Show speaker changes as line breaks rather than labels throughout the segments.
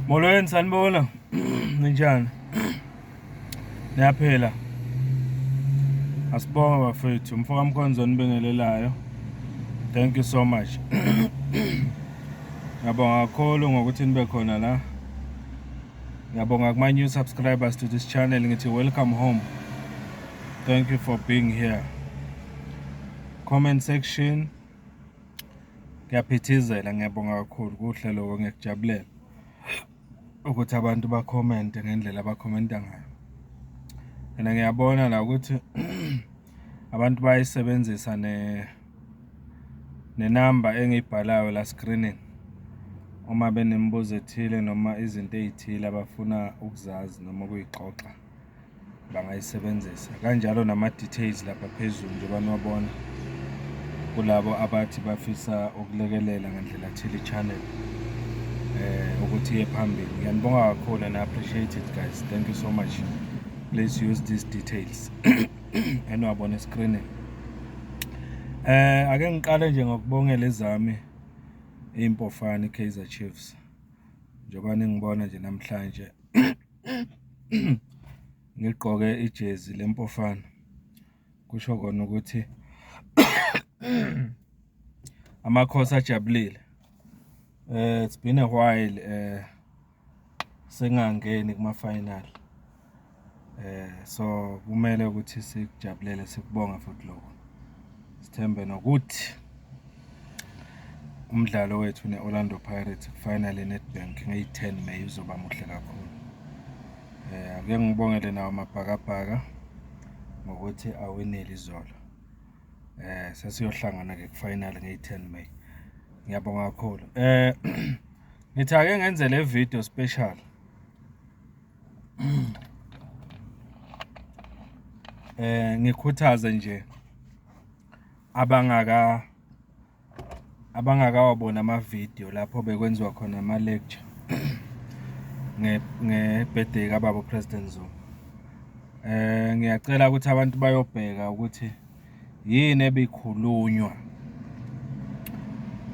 Molweni sanibona. Ninjani? Niyaphila. Asibonga bafethu, mfoka Mkhonzo onibingelelayo. Thank you so much. Ngiyabonga kakhulu ngokuthi nibe khona la. Ngiyabonga kuma new subscribers to this channel ngithi welcome home. Thank you for being here. Comment section Kuyaphithizela, ngiyabonga kakhulu kuhle loko ngiyakujabulela ukuthi abantu bakhomente ngendlela abakhomenta ngayo. And ngiyabona la ukuthi abantu bayisebenzisa ne nenamba engiyibhalayo la screening uma benemibuzo ethile noma izinto ezithile abafuna ukuzazi noma ukuyixoxa. bangayisebenzisa kanjalo nama-details lapha phezulu njengoba niwabona kulabo abathi bafisa ukulekelela ngandlela thile i-channel eh ukuthi iye phambili ngiyanibonga kakhulu and appreciate it guys thank you so much please use these details eniwabona escreenini eh ake ngiqale nje ngokubongela ezami impofana i-Kaizer Chiefs njengoba ningibona nje namhlanje ngigqoke ijezi lempofana kusho kona ukuthi amakhosi ajabulile eh it's been a while eh sengangeni kuma final eh so kumele ukuthi sikujabulele sikubonga futhi lokho Sithembe nokuthi umdlalo wethu ne-Orlando Pirates kufanele ye-Nedbank ngeyi-10 May uzoba muhle kakhulu. Eh ake ngibongele nawo amabhakabhaka ngokuthi awinile izolo. Eh sesiyohlangana ke kufinal ngeyi-10 May. Ngiyabonga kakhulu. Eh ngithi ake ngenze le video special Eh ngikhuthaze nje abangaka abangakawabona ama-video lapho bekwenziwa khona ama-lecture nge-birthday kababa uPresident Zuma. Eh ngiyacela ukuthi abantu bayobheka ukuthi yini ebikhulunywa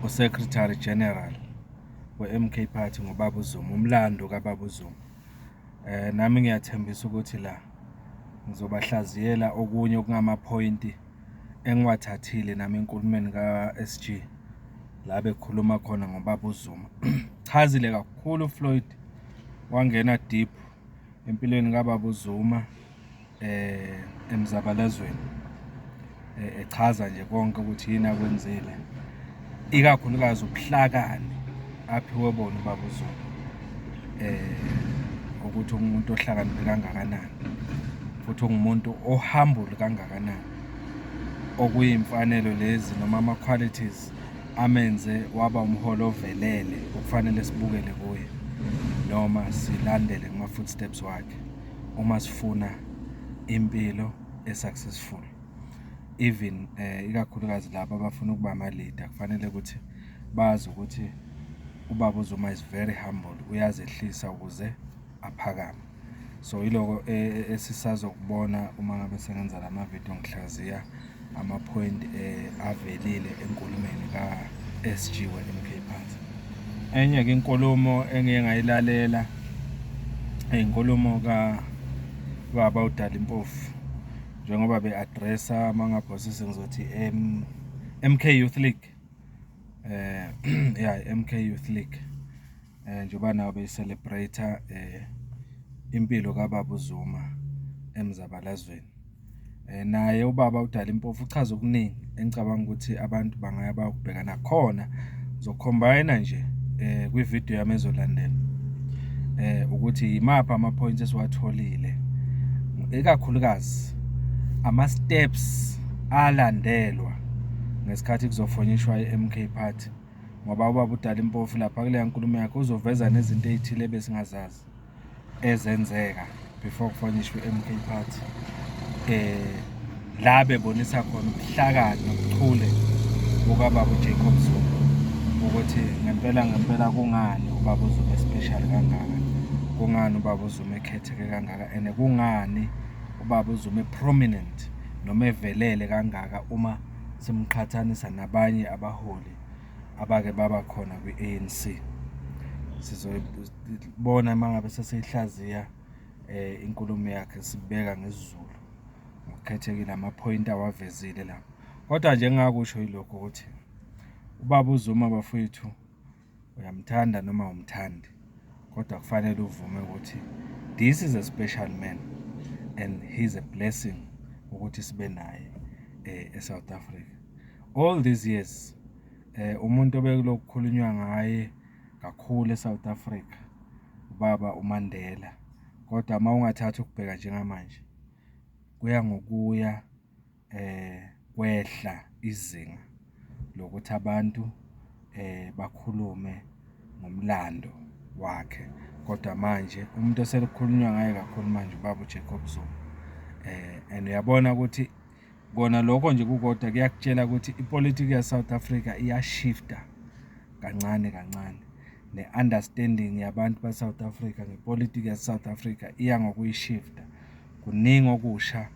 uSecretary General we-MK Party ngoBaba uZuma umlando kaBaba uZuma eh nami ngiyathembisa ukuthi la ngizobahlaziyela okunye okungamaphoyinti engiwathathile nami enkulumeni ka-SG la bekhuluma khona ngoBaba uZuma chazile kakhulu uFloyd wangena deep empilweni kababa uZuma eh emzabalazweni eh, echaza nje konke ukuthi yini akwenzile ikakhulukazi ubuhlakani aphiwe bona ubaba uZuma eh ukuthi umuntu ohlakaniphe kangakanani futhi ungumuntu ohambule kangakanani okuyimfanelo lezi noma ama qualities amenze waba umholi ovelele okufanele sibukele kuye noma silandele kuma-footsteps wakhe uma sifuna impilo e-successful even eh ikakhulukazi laba abafuna ukuba ama-leader kufanele ukuthi bazi ukuthi ubaba uzuma is very humble uyazehlisa ukuze aphakame so yiloko e, e, esisazokubona uma ngabe sengenza la mavidiyo ngihlaziya ama-point eh, avelile enkulumeni ka-sg we-mk phansi enye-ke inkulumo engiye ngayilalela inkulumo kababa udala impofu njengoba be-adressa amangabhosisi ngizothi mk youth league um ya mk youth league eh njengoba nawo becelebrate eh impilo kababa uZuma emzabalazweni eh naye ubaba udala impofu uchaza okuningi engicabanga ukuthi abantu bangaya bayokubheka nakhona zocombine nje eh kwi video yami ezolandela eh ukuthi yimaphi ama points esiwatholile ikakhulukazi ama steps alandelwa ngesikhathi kuzofonyishwa iMK Party ngoba ubaba udala impofu lapha kuleya nkulumo yakhe uzoveza nezinto ey'thile ebesingazazi ezenzeka before kufanishwe i-mk party um la bebonisa khona ubuhlakani nobuchule bukababa ujacob zulu ukuthi ngempela ngempela kungani ubaba uzuma especial kangaka kungani ubaba uzuma ekhetheke kangaka and kungani ubaba uzuma eprominent noma evelele kangaka uma simqhathanisa nabanye abaholi abake baba khona kwi-A_N_C. Sizoyibona uma ngabe sesiyihlaziya inkulumo yakhe sibheka ngesiZulu ngokukhethekile amaphoyinti awavezile la. Kodwa nje engingakusho yilokhu ukuthi ubaba uZuma bafwethu. Uyamthanda noma awumthandi kodwa kufanele uvume ukuthi this is a special man and he's a blessing ukuthi sibe naye eh, eSouth Africa. All these years eh umuntu obekulokukhulunywa ngaye kakhulu eSouth Africa ubaba uMandela kodwa uma ungathatha ukubheka njengamanje kuya ngokuya kwehla izinga lokuthi abantu bakhulume ngomlando wakhe kodwa manje umuntu osekukhulunywa ngaye kakhulu manje ubaba uJacob Zuma and uyabona ukuthi kona lokho nje kukodwa kuyakutshela ukuthi ipolitiki yaSouth Africa iyashifta kancane kancane ne-understanding yabantu baSouth Africa ngepolitiki yaSouth Africa iya ngokuyishifta kuningi okusha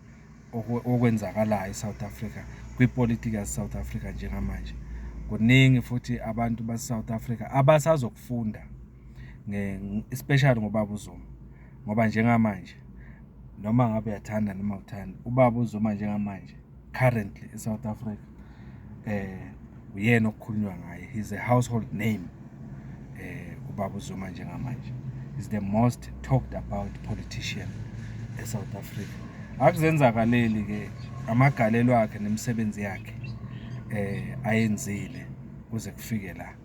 okwenzakalayo eSouth Africa kwipolitiki yaseSouth Africa njengamanje kuningi futhi abantu baseSouth Africa abasazokufunda especially ngobaba uZuma ngoba njengamanje noma ngabe uyathanda noma uthanda ubaba uZuma njengamanje currently eSouth Africa eh uyena okukhulunywa ngaye he's a household name eh ubaba uZuma njengamanje is the most talked about politician e South Africa akuzenzakaleli ke amagalelo akhe nemisebenzi yakhe eh ayenzile kuze kufike la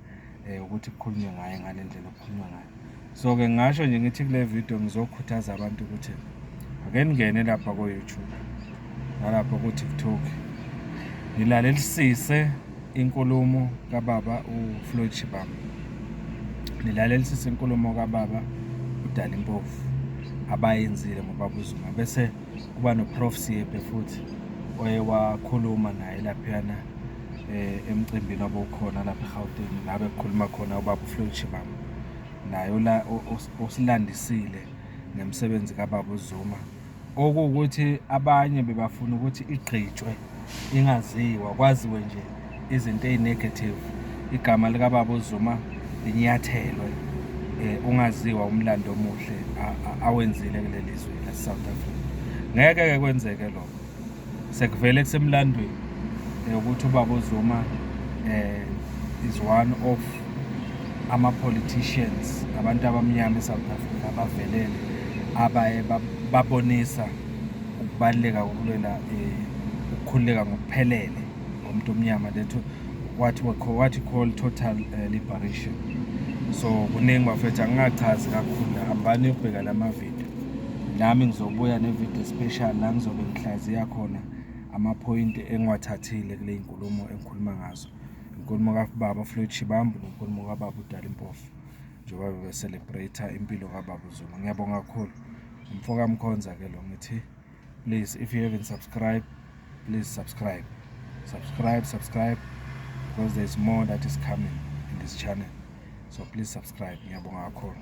eh ukuthi kukhulunywe ngaye ngale ndlela okukhulunywa ngayo so ke ngasho nje ngithi kule video ngizokhuthaza abantu ukuthi ake ningene lapha ko YouTube nalapha ku TikTok nilalelisise inkulumo kababa uFloyd Shibam nilalelisise inkulumo kababa udala impofu abayenzile ngobaba uZuma bese kuba noprof Siebe futhi oye wakhuluma naye laphana eh, emcimbini obukhona lapha eGauteng la bekukhuluma khona ubaba uFloyd Shibamba naye ola- o- os- osilandisile ngemisebenzi kababa uZuma okuwukuthi abanye bebafuna ukuthi igqitshwe ingaziwa kwaziwe nje izinto ezinegative igama likababa uZuma linyathelwe eh, ungaziwa umlando omuhle a- a- awenzile kuleli zwe laseSouth Africa ngeke ke kwenzeke lokho sekuvele kusemlandweni eh, ukuthi ubaba uZuma eh is one of ama politicians abantu abamnyama eSouth Africa abavelele abaye babonisa ukubaluleka kokulela eh, ukukhululeka ngokuphelele komuntu omnyama that what we call what we call total eh, liberation so kuningi bafethu angingachazi kakhulu hambani yokubheka lama video Nami ngizobuya ne-video special la ngizobe ngihlaziya khona amaphoyinti engiwathathile kule nkulumo engikhuluma ngazo inkulumo kababa Floyd Shibambu nenkulumo kababa uDali Mpofu njengoba bebe-celebrate impilo kababa uZuma ngiyabonga kakhulu umfoka Mkhonza ke lo ngithi please if you haven't subscribe please subscribe subscribe subscribe because there is more that is coming in this channel so please subscribe ngiyabonga kakhulu